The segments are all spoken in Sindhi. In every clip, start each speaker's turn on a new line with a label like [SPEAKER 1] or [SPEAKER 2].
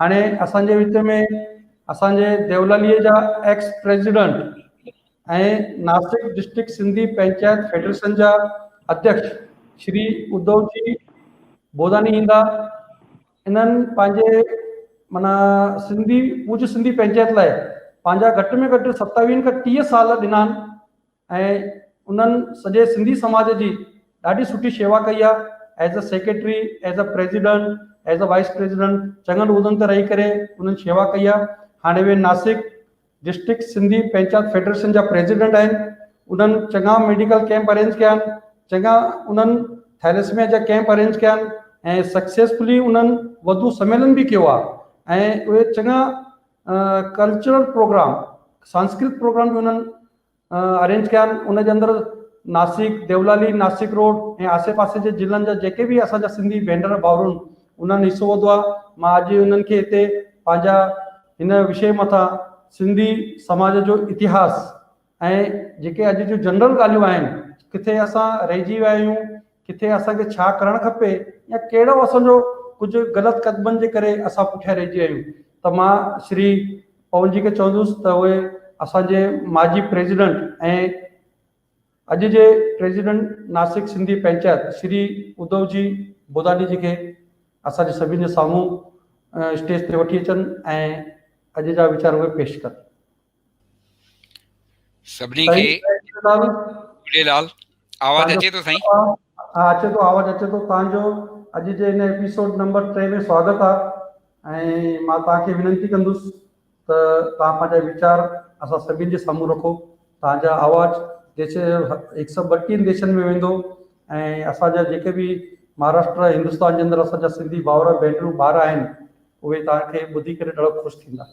[SPEAKER 1] هاڻي اسان جي وچ ۾ اسان جي ديولالي جا ex president ۽ Nashik district Sindhi panchayat federation جا اڌيڪش شري ادو جي بوداني ايندا انهن پنهنجي معنيٰ سنڌي ڪجهه سنڌي پنچائت لاء پنهنجا گهٽ ۾ گهٽ ستاويهن کان ٽيهه سال ڏنا آهن ۽ انهن سڄي سنڌي سماج جي ڏاڍي سٺي شيوا ڪئي آهي as a secretary as a president as a vice president چڱن عهدن تي رهي ڪري انهن شيوا ڪئي آهي هاڻي اهي ناسڪ ڊسٽرڪٽ سنڌي پنچائت فيڊريشن جا پريزيڊنٽ آهن انهن چڱا ميڊيڪل ڪيمپ ارينج ڪيا آهن چڱا انهن ٿيلسميا جا ڪيمپ ارينج ڪيا آهن ۽ سڪسيسفلي انهن وڌو سميلن به ڪيو آهي ۽ اهي چڱا ڪلچرل پروگرام سانسڪرت پروگرام به انهن ارينج ڪيا آهن ان جي اندر ناسڪ ديولالي ناسڪ روڊ ۽ آسي پاسي جي ضلعن جا جيڪي به اسان جا سنڌي ڀينر ڀائرون انهن حصو وڌو آهي مان اڄ انهن کي هتي پنهنجا هن وشي مٿان سنڌي سماج جو اتهاس ۽ جيڪي اڄ جون جنرل ڳالهيون آهن ڪٿي اسان رهجي ويا آهيون ڪٿي اسان کي ڇا ڪرڻ کپي يا ڪهڙو اسان جو ڪجهه غلط قدمن جي ڪري اسان پٺيان رهجي ويا آهيون ته مان شري پون جي کي چوندس ته اهي اسان جي ماضي پريزيڊنٽ ۽ اڄ جي پريزيڊنٽ ناسڪ سنڌي پنچائت شري ادو جي بوداڏي جي کي اسان جي سڀين جي سامهون اسٽيج تي وٺي اچن ۽ اڄ جا ويچار اهي پيش ڪن
[SPEAKER 2] سڀني کي جھڙيلال آواز اچي ٿو سائين ها اچي ٿو
[SPEAKER 1] آواز اچي ٿو تان جو اڄ جي ان ايپيسوڊ نمبر 3 ۾ سواگت آ ۽ مان تان کي وينتي ڪندس ته تان پنهنجا ويچار اسان سڀين جي سامهون رکو تان جا آواز ديش 132 ديشن ۾ ويندو ۽ اسان جا جيڪي به مهاراشٽر هندستان جي اندر اسان جا سنڌي ڀاور ڀينرون ٻار آهن اهي تان کي ٻڌي ڪري ڏاڍو خوش ٿيندا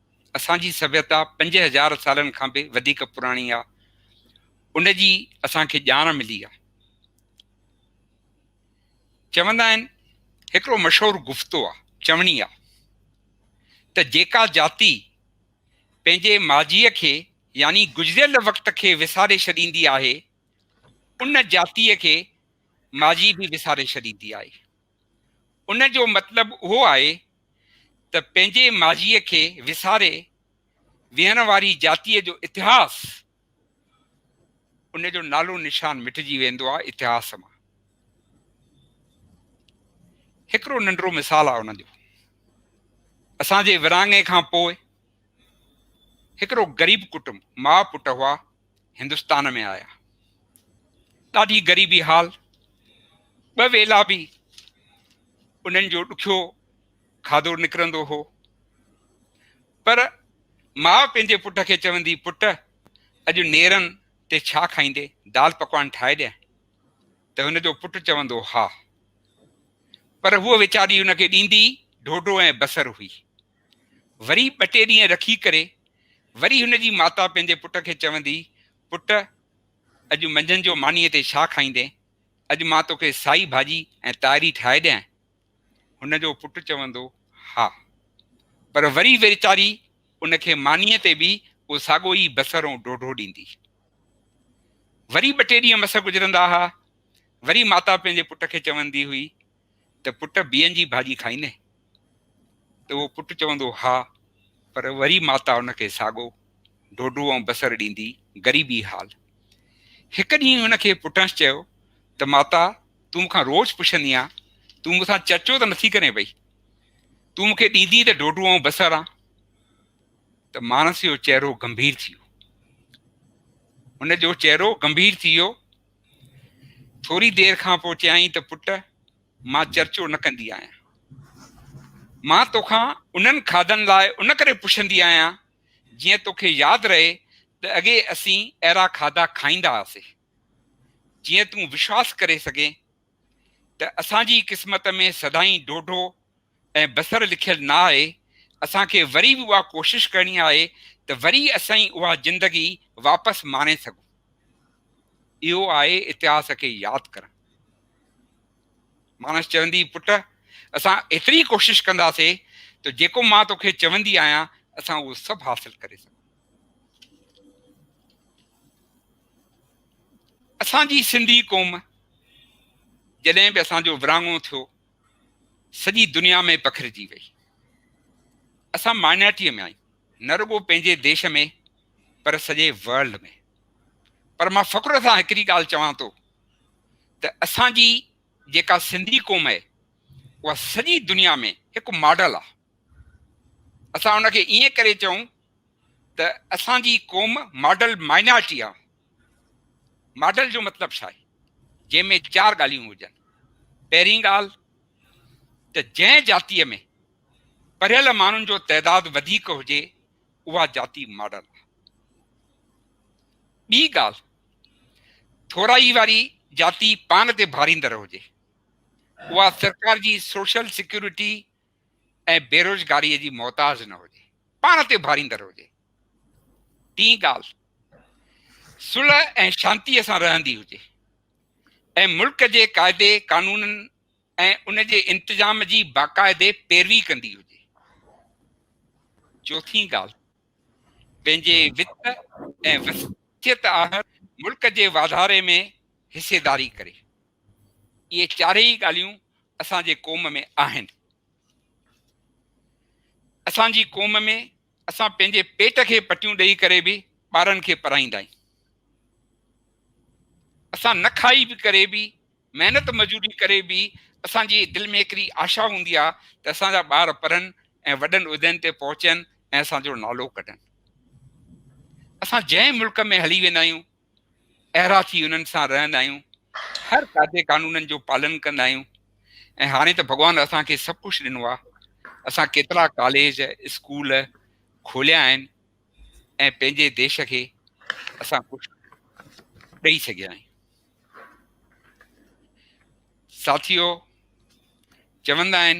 [SPEAKER 2] اسان جي سڀيتا پنج هزار سالن کان به وڌيڪ پراڻي آ ان جي اسان کي ڄاڻ ملي آ چوندا آهن هڪڙو مشهور گفتو آ چوڻي آ ته جيڪا جاتي پنهنجي ماضي کي يعني گذريل وقت کي وساري ڇڏيندي آهي ان جاتي کي ماضي به وساري ڇڏيندي آهي ان جو مطلب اهو آهي ته پنهنجي ماضيء کي وساري ويهڻ واري جاتيء جو اتهاس ان جو نالو نشان مٽجي ويندو آهي اتهاس مان هڪڙو ننڍڙو مثال آهي ان جو اسان جي ورهاڱي کان پوء هڪڙو غريب ڪٽنب ماء پٽ هئا هندستان ۾ آيا. ڏاڍي غريبي حال، ٻه ويلا به انهن جو ڏکيو کاڌو نڪرندو هو. پر ماء پنهنجي پٽ کي چوندي، پٽ اڄ نيرن تي ڇا کائيندي، دال پڪوان ٺاهي ڏيان؟ ته هن جو پٽ چوندو، ها. پر هوء ويچاري هن کي ڏيندي ڍوڍو ۽ بصر هئي. وري ٻه ٽي ڏينهن رکي ڪري وري هن جي ماتا پنهنجي پٽ کي چوندي، پٽ اڄ منجهند جو مانيء تي ڇا کائيندين؟ اڄ مان توکي سائي ڀاڄي ۽ تائري ٺاهي ڏيانء؟ هن جو پٽ چوندو، ها. پر وري ويچاري ان کي مانيء تي به اهو ساڳو ئي بصر ۽ ڍوڍو ڏيندي. وري ٻه ٽي ڏينهن مس گذرندا ها، وري ماتا پنهنجي پٽ کي چوندي هئي، ته پٽ بيئن جي ڀاڄي کائيندين؟ ته اهو پٽ چوندو ها پر وري ماتا ان کي ساڳو ڍوڍو ۽ بصر ڏيندي غريبي حال. هڪ ڏينهن ان کي پٽنس چيو ته ماتا تون مونکان روز پڇندي آن تون مون سان چرچو ته نٿي ڪرين پئي تون مون کي ڏيندي ته ڍوڍو ۽ بصر آن ته ماڻس جو چهرو گنڀير ٿي ويو ان جو چهرو گنڀير ٿي ويو ٿوري دير کان پوء چيائين ته پٽ مان چرچو نه ڪندي آهيان. مان توکان انهن کاڌن لاء ان ڪري پڇندي آهيان جيئن توکي ياد رهي ته اڳي اسين اهڙا کاڌا کائيندا هئاسي. جيئن تون وشواس ڪري سگهين ته اسان جي قسمت ۾ سدائين ڍوڍو ۽ بصر لکيل نه آهي، اسان کي وري به اها ڪوشش ڪرڻي آهي ته وري اسين اها زندگي واپس ماڻي سگهون. اهو آهي اتهاس کي ياد ڪرڻ. ماڻس چوندي پٽ اسان ايتري ڪوشش ڪنداسي ته جيڪو مان توکي چوندي آهيان اسان اهو سڀ حاصل ڪري سگهون. اسان جي سنڌي قوم جڏهن به اسان جو ورهاڱو ٿيو سڄي دنيا ۾ پکڙجي وئي. اسان مائنارٽيء ۾ آهيون، نه رڳو پنهنجي ديش ۾ پر سڄي ورلڊ ۾. پر مان فخر سان هڪڙي ڳالهه چوان ٿو ته اسان جي جيڪا سنڌي قوم آهي اها سڄي دنيا ۾ هڪ ماڊل آهي. اسان ان کي ائين ڪري چئون ته اسان جي قوم ماڊل مائنارٽي آهي. ماڊل جو مطلب ڇا آهي جنهن ۾ چار ڳالهيون هجن پهرين ڳالهه ته جنهن جاتيء ۾ پڙهيل ماڻهن جو تعداد وڌيڪ هجي اها جاتي ماڊل آهي ٻي ڳالهه ٿورائي واري جاتي پاڻ تي ڀاريندڙ هجي اها سرڪار جي سوشل سيڪيورٽي ۽ بيروزگاريء جي محتاج نه هجي، پاڻ تي اڀاريندڙ هجي. ٽين ڳالهه صلح ۽ شانتيء سان رهندي هجي ۽ ملڪ جي قاعدي قانونن ۽ ان جي انتظام جي باقاعدي پيروي ڪندي هجي. چوٿين ڳالهه پنهنجي وت ۽ وصيت آهر ملڪ جي واڌاري ۾ حصيداري ڪري. اهي چارئي ڳالهيون اسان جي قوم ۾ آهن. اسان جي قوم ۾ اسان پنهنجي پيٽ کي پٽيون ڏئي ڪري به ٻارن کي پرائيندا آهيون. اسان نه کائي به ڪري به محنت مزوري ڪري به اسان جي دل ۾ هڪڙي آشا هوندي آهي ته اسان جا ٻار پرن ۽ وڏن عهدن تي پهچن ۽ اسان جو نالو ڪڍن. اسان جنهن ملڪ ۾ هلي ويندا آهيون اهڙا ٿي انهن سان رهندا آهيون، هر قاعدي قانونن جو پالن ڪندا آهيون ۽ هاڻي ته ڀڳوان اسان کي سڀ ڪجهه ڏنو آهي، اسان ڪيترا ڪاليج، اسڪول کوليا آهن ۽ پنهنجي ديش کي اسان ڪجهه ڏئي سگهيا آهيون. ساٿيو چوندا آهن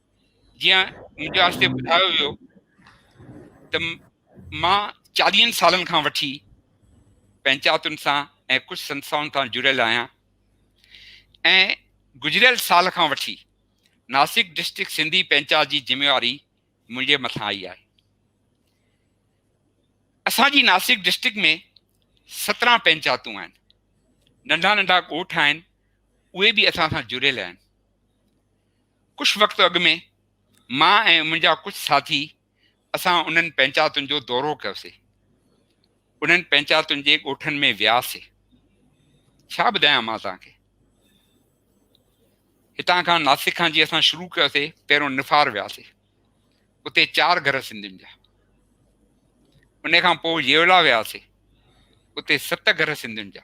[SPEAKER 2] جيئن مون کي آهستي ٻڌايو ويو ته مان چاليهن سالن کان وٺي پنچائتن سان ۽ ڪجهه سنسائن سان جڙيل آهيان ۽ گذريل سال کان وٺي ناسڪ ڊسٽرڪٽ سنڌي پنچائت جي ذميواري منهنجي مٿان آئي آهي اسان جي ناسڪ ڊسٽرڪٽ ۾ سترهن پنچائتون آهن ننڍا ننڍا ڳوٺ آهن اهي به اسان سان جڙيل آهن ڪجهه وقت اڳ ۾ مان ۽ منهنجا ڪجهه ساٿي اسان انهن پنچاتن جو دورو ڪيوسي انهن پنچاتن جي ڳوٺن ۾ وياسي ڇا ٻڌايان مان توهان کي هتان کان ناسڪ کان جي اسان شروع ڪيوسي پهريون نفار وياسي اتي چار گهر سنڌين جا ان کان پوء يولا وياسي اتي ست گهر سنڌين جا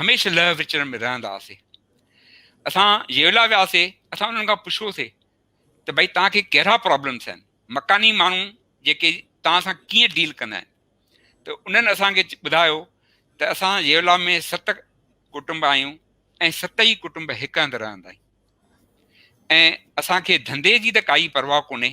[SPEAKER 2] هميشه لهه وچڙ ۾ رهندا هئاسي اسان يولا وياسي اسان انهن کان پڇيوسي ته ڀئي توهان کي ڪهڙا پرابلمس آهن مڪاني ماڻهو جيڪي توهان سان ڪيئن ڊيل ڪندا آهن ته انهن اسان کي ٻڌايو ته اسان يولا ۾ ست ڪٽنب آهيون ۽ ست ئي ڪٽنب هڪ هنڌ رهندا آهيون ۽ اسان کي ڌنڌي جي ته ڪائي پرواهه ڪونهي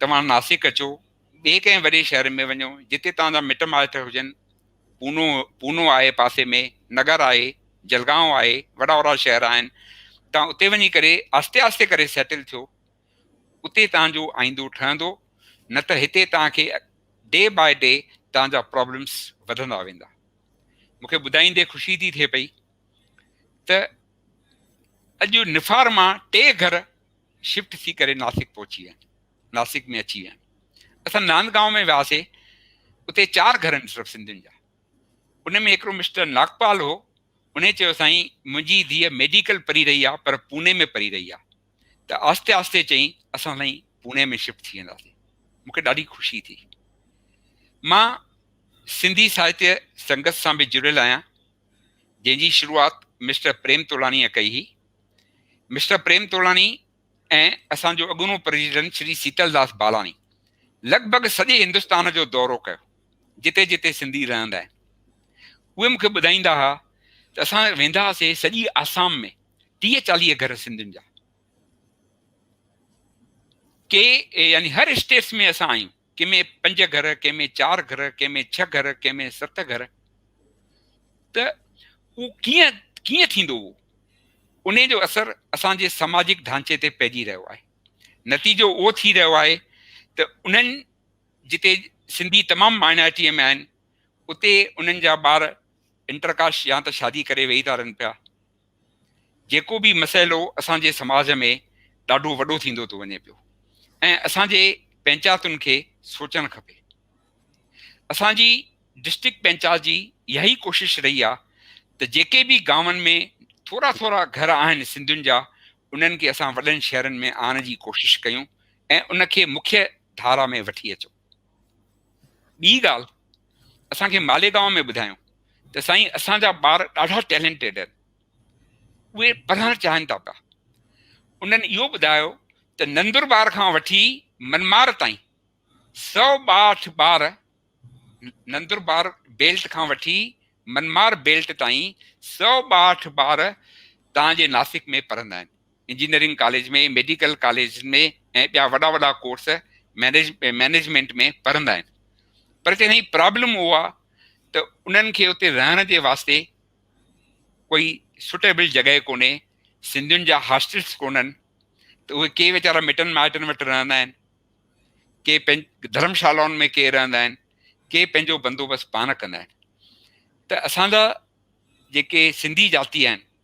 [SPEAKER 2] توهان ناسڪ اچو، ٻئي ڪنهن وڏي شهر ۾ وڃو، جتي توهان جا مٽ مائٽ هجن، پونو، Puno، آهي پاسي ۾، نگر آهي، جلگائون آهي، وڏا وڏا شهر آهن، توهان اتي وڃي ڪري آهستي آهستي ڪري سيٽل ٿيو، اتي توهان جو آئيندو ٺهندو، نه ته هتي توهان کي ڊي باء ڊي توهان جا پرابلمس وڌندا ويندا. مون کي ٻڌائيندي خوشي ٿي ٿئي پئي ته اڄ نفار مان ٽي گهر شفٽ ٿي ڪري ناسڪ پهچي ويا ناسڪ ۾ اچي ويا اسان ناند گاؤن ۾ وياسي اتي چار گھر آهن صرف سنڌين جا ان ۾ هڪڙو مسٽر ناگپال هو ان چيو سائين منهنجي ڌيء ميڊيڪل پري رهي آهي پر پوني ۾ پري رهي آهي ته آهستي آهستي چئي اسان سائين پوني ۾ شفٽ ٿي وينداسين مونکي ڏاڍي خوشي ٿي مان سنڌي ساهتيه سنگت سان به جڙيل آهيان جنهن جي شروعات مسٽر پريم تولاڻيء ڪئي هئي مسٽر پريم تولاڻي ۽ اسان جو اڳوڻو پريزيڊنٽ شري سيتل داس بالاڻي لڳ ڀڳ سڄي هندستان جو دورو ڪيو جتي جتي سنڌي رهندا آهن اهي مونکي ٻڌائيندا هئا ته اسان ويندا هئاسي سڄي آسام ۾ ٽيهه چاليهه گهر سنڌين جا ڪي يعني هر اسٽيٽس ۾ اسان آهيون ڪنهن ۾ پنج گهر، ڪنهن ۾ چار گهر، ڪنهن ۾ ڇهه گهر، ڪنهن ۾ ست گهر ته اهو ڪيئن ڪيئن ٿيندو هو انهي جو اثر اسان جي سماجڪ ڍانچي تي پئجي رهيو آهي نتيجو اهو ٿي رهيو آهي ته انهن جتي سنڌي تمام مائنارٽيء ۾ آهن اتي انهن جا ٻار انٽرڪاش يا ته شادي ڪري ويهي ٿا رهن پيا جيڪو به مسئلو اسان جي سماج ۾ ڏاڍو وڏو ٿيندو ٿو وڃي پيو ۽ اسان جي پنچاتن کي سوچڻ کپي اسان جي ڊسٽرڪٽ پنچات جي اها ئي ڪوشش رهي آهي ته جيڪي به گاون ۾ ٿورا ٿورا گهر آهن سنڌين جا انهن کي اسان وڏن شهرن ۾ آڻڻ جي ڪوشش ڪيون ۽ ان کي مکيه ڌارا ۾ وٺي اچون ٻي ڳالهه اسان کي ماليگاون ۾ ٻڌايو ته سائين اسان جا ٻار ڏاڍا ٽيلنٽيڊ آهن اهي پڙهڻ چاهين ٿا پيا انهن اهو ٻڌايو ته نندربار کان وٺي منمار تائين سو ٻاهٺ ٻار نندربار بيلٽ کان وٺي منمار بيلٽ تائين سو ٻاهٺ ٻار تان جي ناسڪ ۾ پڙهندا آهن انجنيئرنگ ڪاليج ۾، ميڊيڪل ڪاليج ۾ ۽ ٻيا وڏا وڏا ڪورس مئنيجمينٽ ۾ پڙهندا آهن پر جڏهن هي پرابلم اهو آهي ته انهن کي اتي رهڻ جي واسطي ڪوئي سوٽيبل جڳهه ڪونهي سنڌين جا هاسٽلس ڪونهن ته اهي ڪي ويچارا مٽن مائٽن وٽ رهندا آهن ڪي پنهنج ڌرمشالائن ۾ ڪي رهندا آهن ڪي پنهنجو بندوبست پاڻ ڪندا آهن ته اسان جا جيڪي سنڌي جاتي آهن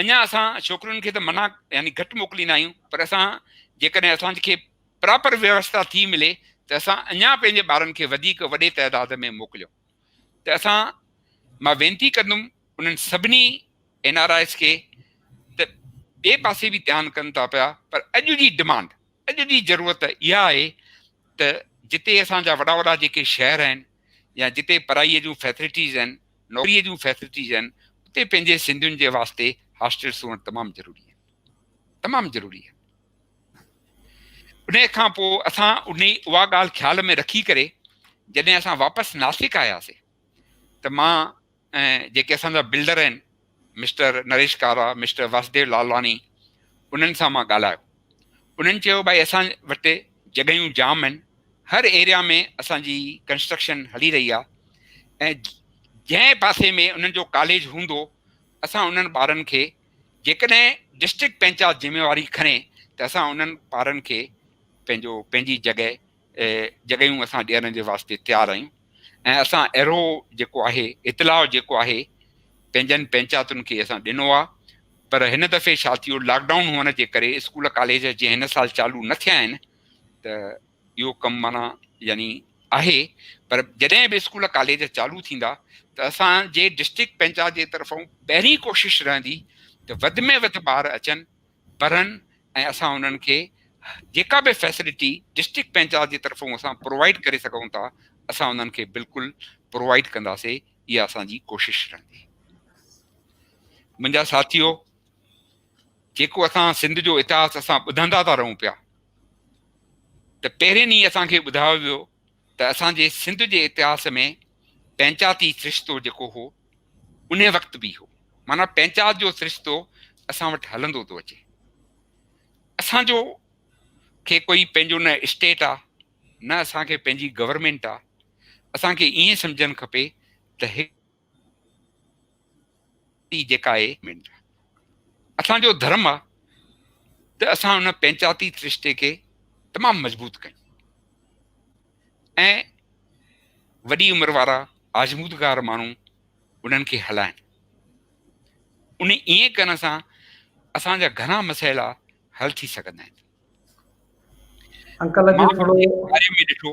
[SPEAKER 2] اڃا اسان ڇوڪرين کي ته منع يعني گهٽ موڪليندا آهيون پر اسان جيڪڏهن اسان کي پراپر ويوسٿا ٿي ملي ته اسان اڃا پنهنجي ٻارن کي وڌيڪ وڏي تعداد ۾ موڪليون ته اسان مان وينتي ڪندم انهن سڀني اين آر آئيز کي ته ٻئي پاسي به ڌيان ڪن ٿا پيا پر اڄ جي ڊمانڊ اڄ جي ضرورت اها آهي ته جتي اسان جا وڏا وڏا جيڪي شهر آهن يا جتي پڙهائيء جون فيسلٽيز آهن، نوڪريء جون فيسلٽيز آهن، اتي پنهنجي سنڌين جي واسطي هاسٽلس هئڻ تمام ضروري آهن. تمام ضروري آهن. انهيء کان پوء اسان انهي اها ڳالهه خيال ۾ رکي ڪري جڏهن اسان واپس ناسڪ آياسين ته مان ۽ جيڪي اسان جا بلڊر آهن مسٽر نريش ڪارا مسٽر واسديو لالواڻي انهن سان مان ڳالهايو انهن چيو ڀائي اسان وٽ جڳهيون جام آهن هر ايريا ۾ اسان جي ڪنسٽرڪشن هلي رهي آهي ۽ جنهن پاسي ۾ انهن جو ڪاليج هوندو اسان انهن ٻارن کي جيڪڏهن ڊسٽرڪٽ پنچات ذميواري کڻي ته اسان انهن ٻارن کي پنهنجو پنهنجي جڳهه جڳهيون اسان ڏيڻ جي واسطي تيار آهيون ۽ اسان اهڙو جيڪو آهي اطلاع جيڪو آهي پنهنجن پنچاتن کي اسان ڏنو آهي پر هن دفعي ڇا ٿيو لاڪ ڊائون هئڻ جي ڪري اسڪول ڪاليج جي هن سال چالو نه ٿيا آهن ته اهو ڪم مانا يعني آهي پر جڏهن به اسڪول ڪاليج چالو ٿيندا ته اسان جي ڊسٽرڪٽ پنچات جي طرفان پهرين ڪوشش رهندي ته وڌ ۾ وڌ ٻار اچن پرهن ۽ اسان انهن کي جيڪا به فيسلٽي ڊسٽرڪٽ پنچايت جي طرفون اسان پرووائيڊ ڪري سگهون ٿا اسان انهن کي بلڪل پرووائيڊ ڪنداسي اها اسان جي ڪوشش رهندي منهنجا ساٿيو جيڪو اسان سنڌ جو اتهاس اسان ٻڌندا ٿا رهون پيا ته پهرين ئي اسان کي ٻڌايو ويو ته اسان جي سنڌ جي اتهاس ۾ پنچاتي سرشتو جيڪو هو ان وقت به هو معنيٰ پنچات جو سرشتو اسان وٽ هلندو ٿو اچي اسان جو کي ڪوئي پنهنجو نه اسٽيٽ آ نه اسان کي پنهنجي گورنمينٽ آ اسان کي ائين سمجھن کپي ته ٽي جيڪا آهي منٽ اسان جو ڌرم آ ته اسان ان پنچاتي سرشتي کي تمام مضبوط ڪيون ۽ وڏي عمر وارا آزمودگار ماڻهو انهن کي هلائن ان ائين ڪرڻ سان اسان جا گهڻا مسئلا حل ٿي سگهندا آهن انڪل
[SPEAKER 1] ڏٺو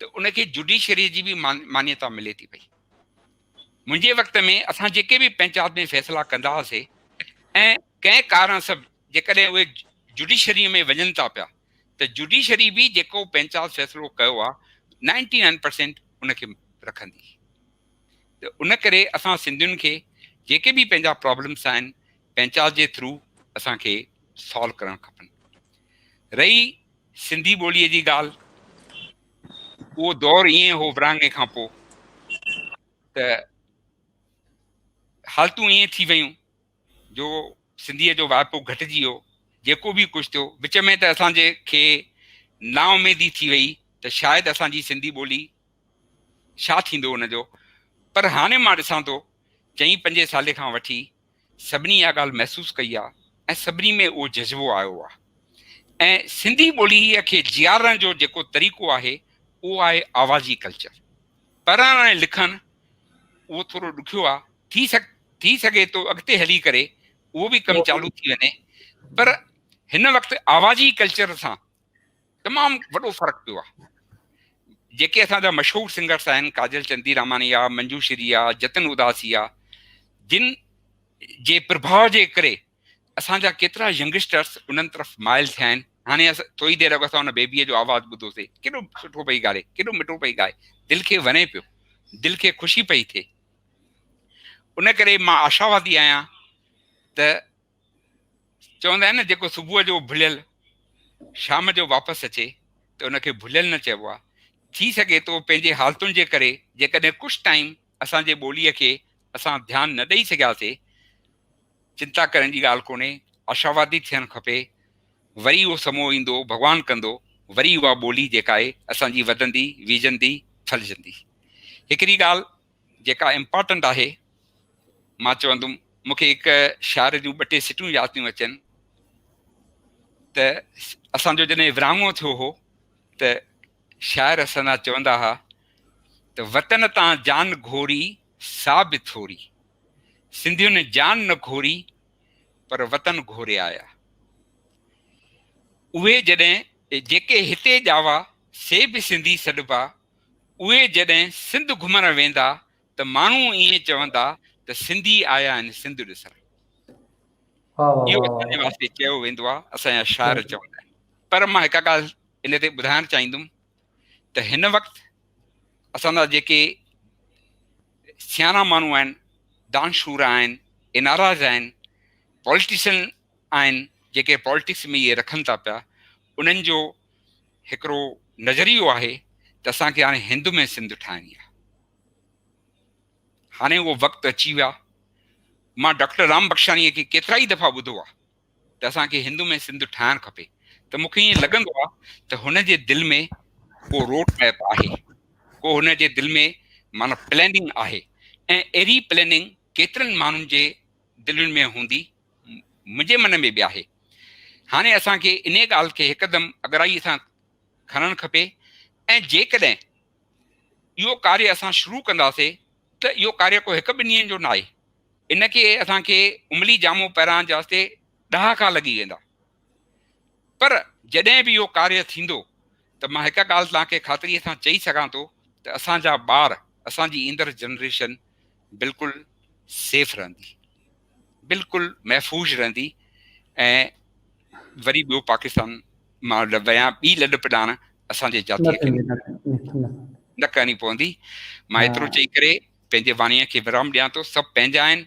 [SPEAKER 2] ته ان کي جوڊيشري جي به مانيتا ملي ٿي پئي منهنجي وقت ۾ اسان جيڪي به پنچات ۾ فيصلا ڪندا هئاسي ۽ ڪنهن ڪارڻ سب جيڪڏهن اهي جوڊيشري ۾ وڃن ٿا پيا ته جوڊيشري به جيڪو پنچات فيصلو ڪيو آهي نائنٽي نائن پرسينٽ ان کي رکندي ته ان ڪري اسان سنڌين کي جيڪي به پنهنجا پرابلمس آهن پنچات جي ٿرو اسانکي سالو ڪرڻ کپن رهي سنڌي ٻوليء جي ڳالهه اهو دور ائين هو ورهاڱي کان پوء ته حالتون ائين ٿي ويون جو سنڌيء جو واهپو گهٽجي ويو جيڪو به ڪجهه ٿيو وچ ۾ ته اسان جي کي نااميدي ٿي وئي ته شايد اسان جي سنڌي ٻولي ڇا ٿيندو ان جو پر هاڻي مان ڏسان ٿو چئين پنجين سالين کان وٺي سڀني اها ڳالهه محسوس ڪئي آهي ۽ سڀني ۾ اهو جذبو آيو آهي ۽ سنڌي ٻوليء کي جيارڻ جو جيڪو طريقو آهي اهو آهي آوازي ڪلچر پڙهڻ ۽ لکڻ اهو ٿورو ڏکيو آهي ٿي سگ ٿي سگهي ٿو اڳتي هلي ڪري اهو به ڪم چالو ٿي وڃي پر هن وقت آوازي ڪلچر سان تمام وڏو فرق پيو آهي جيڪي اسان جا مشهور سنگرس آهن ڪاجل چندي راماني آ منجو شري آ جتن اداسي آ جن جي پرڀاء جي ڪري اسان جا ڪيترا ينگسٽرس انهن طرف مائل ٿيا آهن هاڻي ٿوري دير اڳ اسان ان بيبي جو آواز ٻڌوسي ڪيڏو سٺو پئي ڳالهي ڪيڏو مٺو پئي ڳائي دل کي وڻي پيو دل کي خوشي پئي ٿئي ان ڪري مان آشاوادي آهيان ته چوندا آهن نه جيڪو صبح جو ڀليل شام جو واپس اچي ته ان کي ڀليل نه چئبو آهي ٿي سگهي ٿو پنهنجي حالتن جي ڪري جيڪڏهن ڪجهه ٽائيم اسان جي ٻوليء کي اسان ڌيان نه ڏئي سگهياسي چنتا ڪرڻ جي ڳالهه ڪونهي آشاوادي ٿيڻ کپي وري اهو سمو ايندو ڀڳوان ڪندو وري اها ٻولي جيڪا آهي اسان جي وڌندي ويجهندي ڦلجندي هڪڙي ڳالهه جيڪا امپارٽنٽ آهي. مان چوندم مون کي هڪ شاعر جون ٻه ٽي سٽون ياد ٿيون اچن ته اسان جو جڏهن ورهاڱو ٿيو هو ته شاعر اسان چوندا هئا ته وطن تان جان گهوري سا به ٿوري سنڌين جان نه گهوري پر وطن گهوري آيا اهي جڏهن جيڪي هتي ڄاوا سي به سنڌي سڏبا اهي جڏهن سنڌ گهمڻ ويندا ته ماڻهو ائين چوندا ته سنڌي آيا آهن سنڌ ڏسڻ. اهو اسان جي واسطي چيو ويندو آهي، اسان جا شاعر چوندا آهن. پر مان هڪ ڳالهه ان تي ٻڌائڻ چاهيندم ته هن وقت اسان جا جيڪي سياڻا ماڻهو آهن، دانشورا آهن، اين آر آئيز آهن، پوليٽيشن آهن، جيڪي پوليٽڪس ۾ اهي رکن ٿا پيا، انهن جو هڪڙو نظريو آهي ته اسان کي هاڻي هند ۾ سنڌ ٺاهڻي آهي. هاڻي اهو وقت اچي ويو آهي. مان ڊاڪٽر رام بخشاڻيء کي ڪيترا ئي دفعا ٻڌو آهي ته اسان کي هند ۾ سنڌ ٺاهڻ کپي ته مون کي ائين لڳندو آهي ته هن جي دل ۾ ڪو روڊ ميپ آهي، ڪو هن جي دل ۾ معنيٰ پليننگ آهي ۽ اهڙي پليننگ ڪيترن ماڻهن جي دلين ۾ هوندي، منهنجي من ۾ به آهي. هاڻي اسان کي انهيء ڳالهه کي هڪدم اڳرائيء سان کڻڻ کپي ۽ جيڪڏهن اهو ڪاري اسان شروع ڪنداسي ته اهو ڪاري ڪو هڪ ٻن ڏينهن جو ناهي. ان کي اسان کي عملي جامو پهرائڻ جي واسطي ڏهاڪا لڳي ويندا. پر جڏهن به اهو ڪاريه ٿيندو ته مان هڪ ڳالهه توهان کي خاطريء سان چئي سگهان ٿو ته اسان جا ٻار اسان جي ايندڙ جنريشن بلڪل سيف رهندي بلڪل محفوظ رهندي ۽ وري ٻيو پاڪستان مان ويان ٻي لڏپ ڏاڻ اسان جي جاتي کي نه ڪرڻي پوندي مان ايترو چئي ڪري پنهنجي واڻيء کي ورام ڏيان ٿو سڀ پنهنجا آهن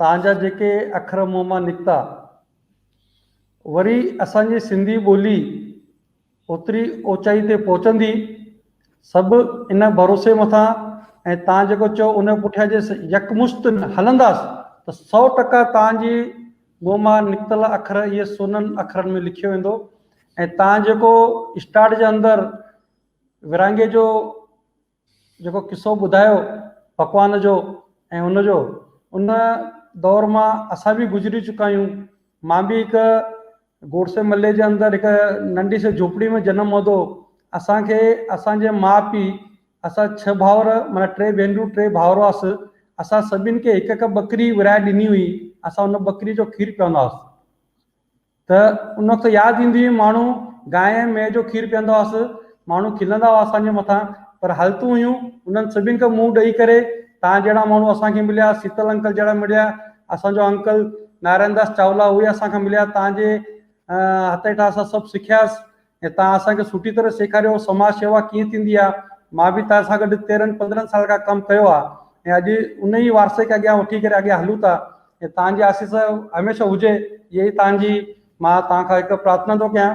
[SPEAKER 1] تان جا جيڪي اکر منهن مان نڪتا، وري اسان جي سنڌي ٻولي اوتري اوچائي تي پهچندي، سڀ ان ڀروسي مٿان ۽ تان جيڪو چئو ان پٺيان جي يڪمشت هلنداس ته سؤ ٽڪا تان جي منهن مان نڪتل اکر اهي سونن اکرن ۾ لکيو ويندو ۽ تان جيڪو اسٽاٽ جي اندر ورهاڱي جو جيڪو قصو ٻڌايو پڪوان جو ۽ ان جو ان دور مان اسان به گذري چڪا آهيون مان به هڪ گوڙسي ملي جي اندر هڪ ننڍي سي جھوپڙي ۾ جنم ورتو اسان کي اسان جي ماء پي اسان ڇهه ڀائر مانا ٽي ڀينرون ٽي ڀائر هئاس اسان سڀين کي هڪ هڪ ٻڪري ورهائي ڏني هئي اسان ان ٻڪري جو کير پيئندا هئاسين. ته ان وقت ياد ايندي هئي ماڻهو گانء ۽ مينهن جو کير پيئندا هئس، ماڻهو کلندا هئا اسان جي مٿان پر حالتون هيون انهن سڀن کي منهن ڏئي ڪري توهان جهڙا ماڻهو اسان کي مليا سيتل انڪل جهڙا مڙيا اسان جو انڪل نارائڻ داس چاولا اهي اسان کي مليا توهان جي هٿ هيٺان اسان سڀ سکياس ۽ تان اسان کي سٺي طرح سيکاريو سماج شيوا ڪيئن ٿيندي آ مان به تان سان گڏ تيرھن پندرھن سال کان ڪم ڪيو آ ۽ اڄ ان ئي وارثي کي اڳيان وٺي ڪري اڳيان ھلون ٿا ۽ تان جي آسيس ھميشه ھجي اھي ئي تان جي مان تان کان ھڪ پرارٿنا ٿو ڪيان